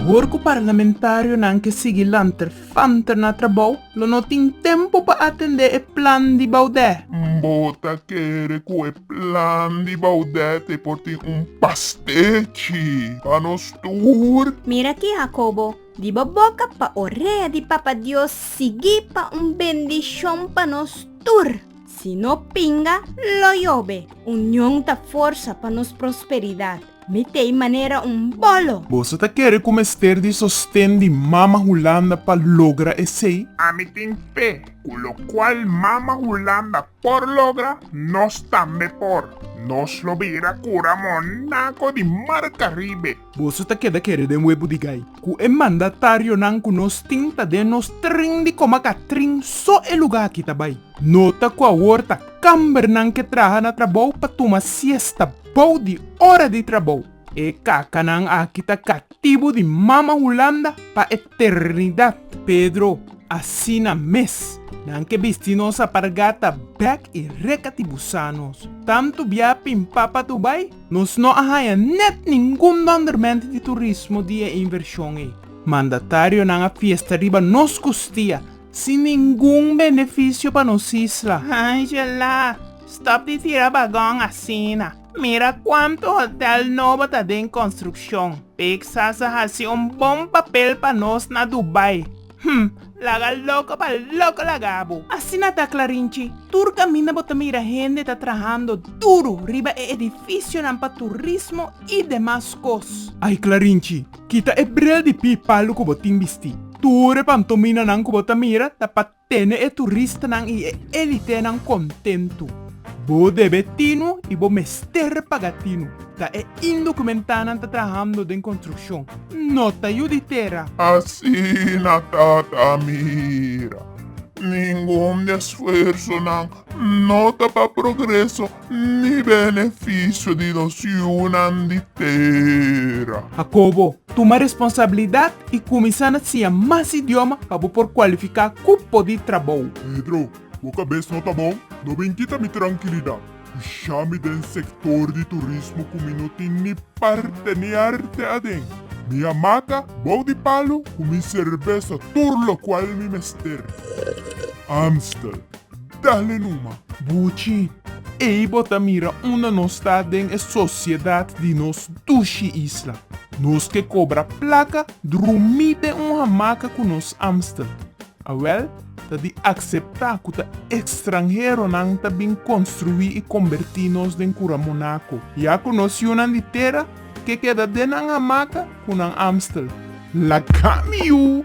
Ahor cu parlamentarionan ke sigui lanter fanter na trabou, lo no tin tempo pa atende e plan di Baudet. Bo ta kere cu e plan di Baudet e por tin un pastechi pa nos tur? Mira aki, Jacobo. Di bo boka pa orea di Papa Dios sigui pa un bendishon pa nos tur. Si no pinga, lo yobe. Union ta forsa pa nos prosperidat. Mi ta e manera un bolo. Boso ta kere ku mester di sosten di Mama Hulanda pa logra esei? Ami tin fe ku lokual Mama Hulanda por logra, nos tambe por. Nos lo bira kura monaco di marca riba e. Boso ta keda kere den webu di gai ku e mandatarionan ku nos tin ta den nos trin di koma katrin so e lugá aki ta bai. Nota ku awor ta kambernan ke traha na trabou pa tuma siesta bou di ora di trabou. E kakanan aki ta katibu di Mama Hulanda pa eternidat. Pedro, Asina mes, nan ke bisti nos apargata bèk i reka ti busa nos. Tantu biapi, Mpapa, tu bai? Nos no a haña net ningun dòndermènt di turismo di e invershon ei. Mandatarionan a fiesta riba nos kustia, sin ningun benefisio pa nos isla. Angela, Stòp di tira bagòn asina. Mira kuantu hotèl nobo ta den konstrukshon. Pixas a hasi un bon papel pa nos na Dubai. Hm, laga loko pa loko laga bo. Asina ta Clarinchi, tur caminda bo ta mira hende ta trahando duro riba e edificionan pa turismo y demas cos. Ay Clarinchi, kita e bril di pi palu cu bo tin bisti. Tur e pantominanan cu bo ta mira ta pa tene e turistanan y e elitenan contento. Bo debe tinu y bo mester paga tinu, ta e indocumentadanan ta trahando den construccion. no ta yu di tera. Asina Tata a mira. Ningun di e sfuersonan no ta pa progreso ni benefisio di nos yunan di tera. Hakobo, tuma responsabilidat i kuminsá na siña mas idioma pa bo por kualifiká ku por di trabou. Pedro, bo kabes no ta bon? No bin kita mi trankilidat. Pusha mi den sektor di turismo ku mi no tin ni parte ni arte aden. Mi a maka bou di palu ku mi serbesa tur lokual mi mester. Amstel, Dale numa! Buchi, Ei bo ta mira unda nos ta den e sosiedat di nos dushi isla. Nos ke kobra plaka drumí den un hamaka ku nos Amstel. Awèl, Ta di akseptá ku ta ekstranheronan ta bin konstruí i kombertí nos den kura monako. Ya ku nos yunan di tera ke keda den nan hamaka ku nan amstel. Lakami yu!